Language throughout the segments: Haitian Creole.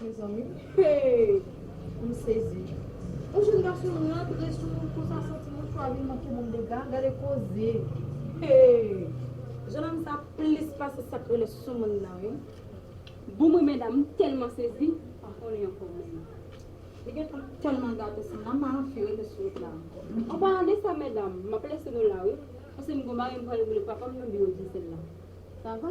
Mezanmi heyy m sezi. Yon jèn gason rantre sou moun konsa san ti mouchwa vin manke moun dega gade koze heyy. Jèn òm sa plis pase sak rele soumoun nan wi. Bon mwen mèdam m tèlman sezi m pa konnen ankò menm. Li gentan tèlman gate san nan m pa anfi rete sou wout la ankò. An palan de sa mèdam m ap lese nou la wi paske m gon bagay m pral rele papa m nan biwo Diesel la sa va.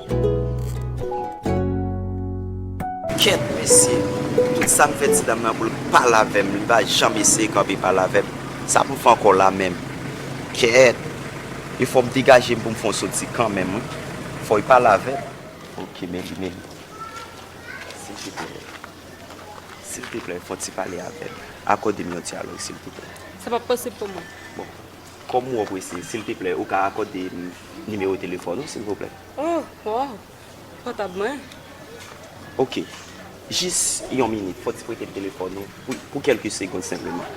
Kèt mesye, tout sa m fè ti dam nan pou l pale avè m, li pa janm eseye kanpe pale avè m. Sa pou m fè ankò la menm? Kèt! E fò m degaje m pou m fè yon soti kanmenm wi. Fò li pale avè m. Ok, Meli, Meli. Silteplè, silteplè fè yon ti pale avè m. Akòde m yon dyalòg silteplè. Sa p ap posib pou mwen. Bon, Kòm ou prese, silteplè ou ka akòde m nimewo telefòn ou, silvouplè? Oh, oh! Pòtab mwen? Oke. Jis yon minit, fòk ti prete m telefòn ou pou kèlke segond senpleman.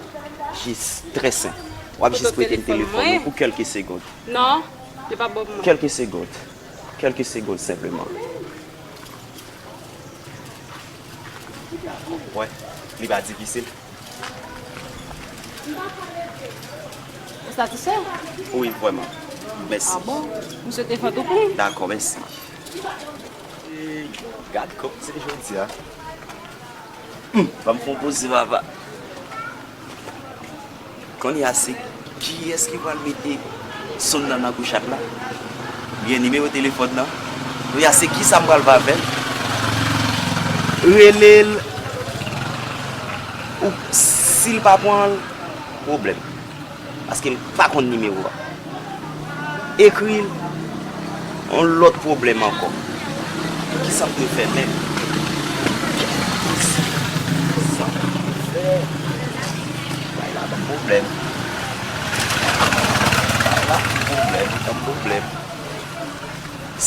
Jis, trè senp. W ap jis prete m telefòn ou pou kèlke segond. Non, yo pa ban m mwen. Kèlke segond. Kèlke segond senpleman. Ou wè, li pa difisil. Ou satisfè? Wi vrèman. Mèsi. A bon? M swete fè tou pli. Dakò, mèsi. Eey gad kòk t se jodia humm banm fon poze vava. Kounye a se kiyès ki pral mete sonn nan nan kouchat la? Oubyen nimewo telefòn nan? Kounye a se kisa m pral vavè l? Rele l ou si l pa pran l pwoblèm paske m pa konn nimewo a. Ekri l yon lòt pwoblèm ankò. Poukisa pou yo fè menm? Poukisa pou yo fè? Bagay la banm pwoblèm. Bagay la banm pwoblèm.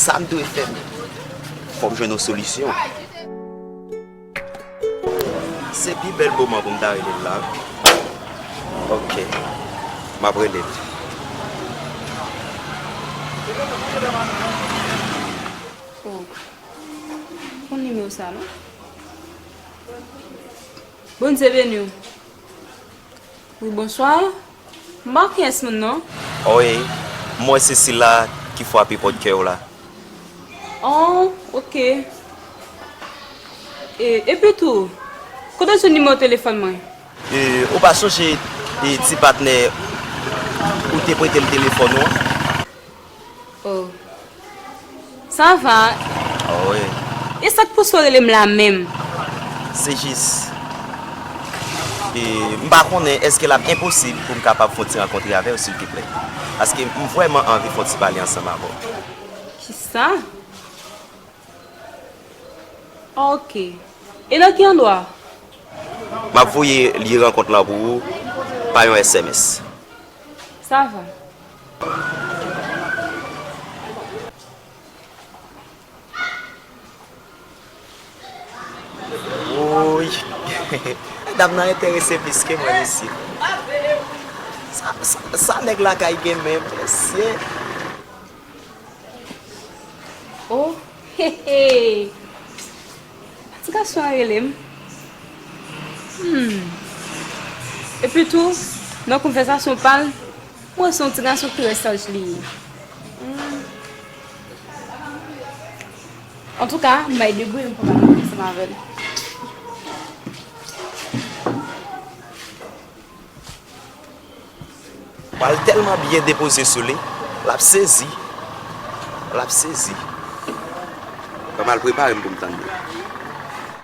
Sa m dwe fè menm? Fò m jwenn yon solisyon. Se pi bèl moman pou m ta rele l la wi. Ok. M ap rele l. Oh. M konn nimewo sa non. Bondye beni w. Wi bonswa. Marques moun non. Ohh m wè se sila ki fwape pòt kè w la. Ohh ok. Epi tou, kote w jwenn nimewo telefòn mwen? Ohh ou pa sonje ti patnè ou te prete m telefòn ou an? Oh Sa va Oh wi E sak pouse w rele m la menm? Se jis M pa konnen eske l ap enposib pou m kapab fon ti rankontre avè w silteplè? Paske m vrèman anvi fon ti pale ansanm avè w Kisa? Ok E nan ki andwa? M ap voye lye rankont lan pou ou pa yon sms Sa va. Wouuyy dam nan enterese plis ke mwen isit. Sa nèg lakay gen menm mesye. Oh hehe ti gason an rele m humm epi tou nan konvèzasyon pa l Mwen se yon ti gason ki trè saj li ye antouka m bay degri m pou ta mache ansanm avè l. Pral tèlman byen depoze sou li lap sezi lap sezi. Fòm al prepare m pou m tann li.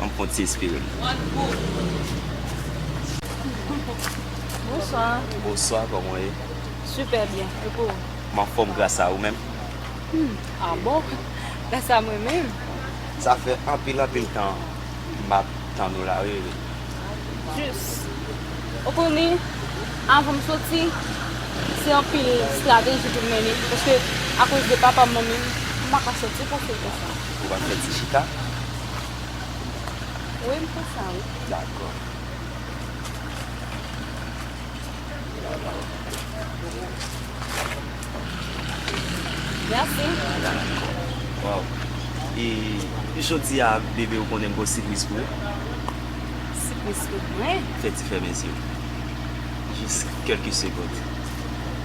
An m kont ti espere m. Bonswa. Bonswa koman w ye? Sipè byen e pou ou? M anfòm gras a ou menm? Humm a bon gras a mwen menm. Sa fè anpil anpil tan m ap tann ou la wi Riri. Jis ou konnen avan m soti se anpil strateji pou m mennen paske akoz de papa m manmi m m pa ka soti fasil konsa. Ou pa fè ti chita? Wi m fè sa wi. Dakò. Mèsi. Dakò. Waw. E jodi a bebe ou konnen m gen yon sipriz pou ou. Sipriz pou mwen? Fè ti fèmen zye w. Jis kèlke segond.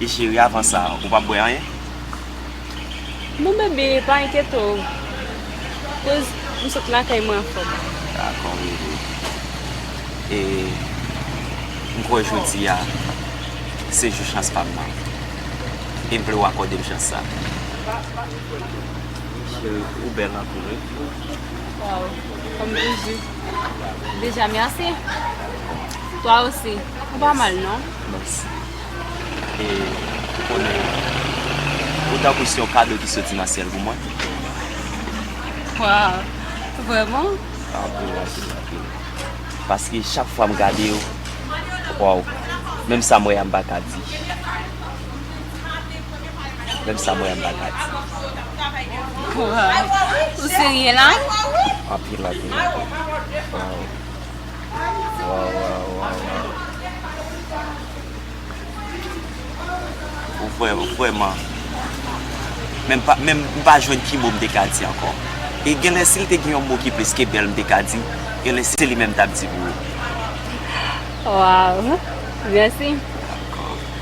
E cheri avan sa ou pap bwè anyen? Non bebe pa enkyete w koz m sot lakay mwen anfom. Dakò bebe. E m kwè jodi a se jou chans pa m nan. E m vle w akòde m chans sa. Cheri ou bèl anpil wi. Waw fanm toujou. Deja merci. Toi aussi. Ou pa mal non. Merci. E ou konnen ou tankou se yon kado ki soti nan syèl pou mwen. Waw. Vreman? Anpil, anpil, anpil. Paske chak fwa m gade ou, waw, menm sa m wè a m pa ka di. Menm sa mwen anba gati. Waww ou serye la? Anpil anpil anpil waww waww waww waww. Ou vre ou vreman. Menm pa menm m pa jwenn ki mo m te ka di ankò. E genlè si l te gen yon mo ki plis ke bèl m te ka di, genlè se li menm m t ap di pou ou. Waww mèsi.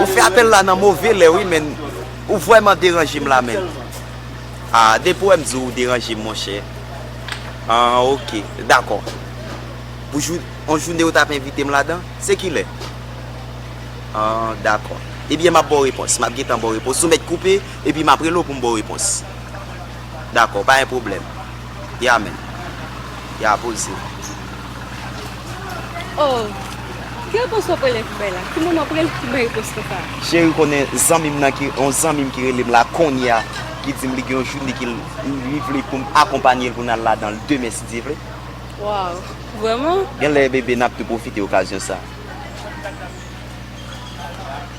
Ou fè apèl la nan move lè wi menn ou vrèman deranje m la menn Ahh depi ou wè m di ou deranje m monchè Ahh ok dakò Pou jou yon joune ou tap envite m ladan se kilè Ahh dakò Ebyen map ba w repons map gentan ba w repons ou mèt koupe epi map rele w pou m ba w repons Dakò pa gen pwoblèm. Ya men. Ya poul se. Oh Ki repons wap prele pou bay la? Ki moman wap prele pou bay repons konsa? Cheri konnen zanmim nan ki yon zanmim ki relem la konnya ki dim li gen yon joune ki li vle poum akonpanyel pou nal ladanl demen si Dye vle. Waww vrèman? Genlè bebe nap tou pwofite okazyon sa.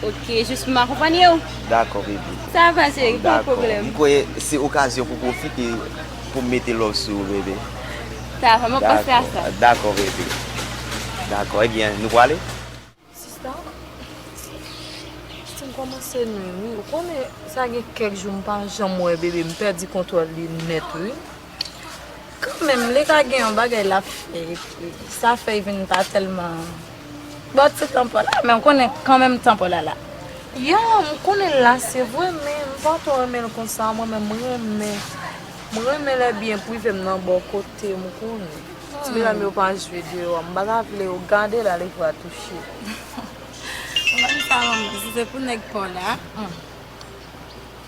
Ok jis pou m akonpanye w. Dakò baby. Sa va cheri pa pwoblèm. Dakò. M kwè se okazyon pou pwofite pou m mete love sou ou baby. Sa va mwen panse a sa. Dakò baby. Dakò ebyen nou pwale? Sista, sista m kòmanse nwi wi. Ou konnen sa gen kèk jou m pa janm wè baby m pèdi kontwòl li nèt wi. Kanmenm li ka gen yon bagay lap fè epi sa fèy vin pa tèlman Bon ti tan paw la men ou konnen kanmenm tan paw la la. Ya m konnen l la se vre men m pa twò renmen l konsa mwen menm m renmen m renmen lè byen prive m nan bò kote m ou konnen ti medam yo pa jwe deyò m pa ta vle yo gade l ale vwa touche. Ou menm sa manman si se pou nèg paw la.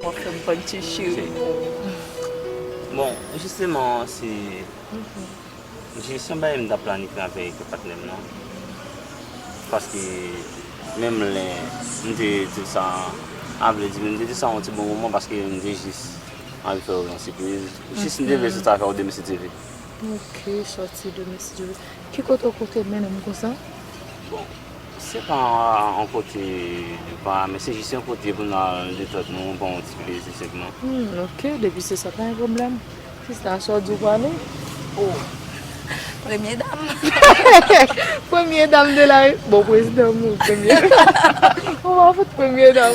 Wap fèm fann ti cheri pou. Bon jisteman an se jis yon bagay m ta planifye avèk patnèm nan paske menm lè m te diw sa a vle di m te diw sa yon ti bon moman paske m te jis anvi fèw yon sipriz jis m te vle soti avèw demen si Dieu veut. Ok soti demen si Dieu veut. Ki kote ou te mennen m konsa? Bon. Se pa yon kote nou pa men se jis yon kote pou nou al detente nou, pran yon ti plezi sèlman. Humm ok depi se sa pa gen pwoblèm. Sista sa w di w prale? Oh premye dam. Premye dam de la Rep. Bon prezidan m premye dam. Ou pa fout premye dam.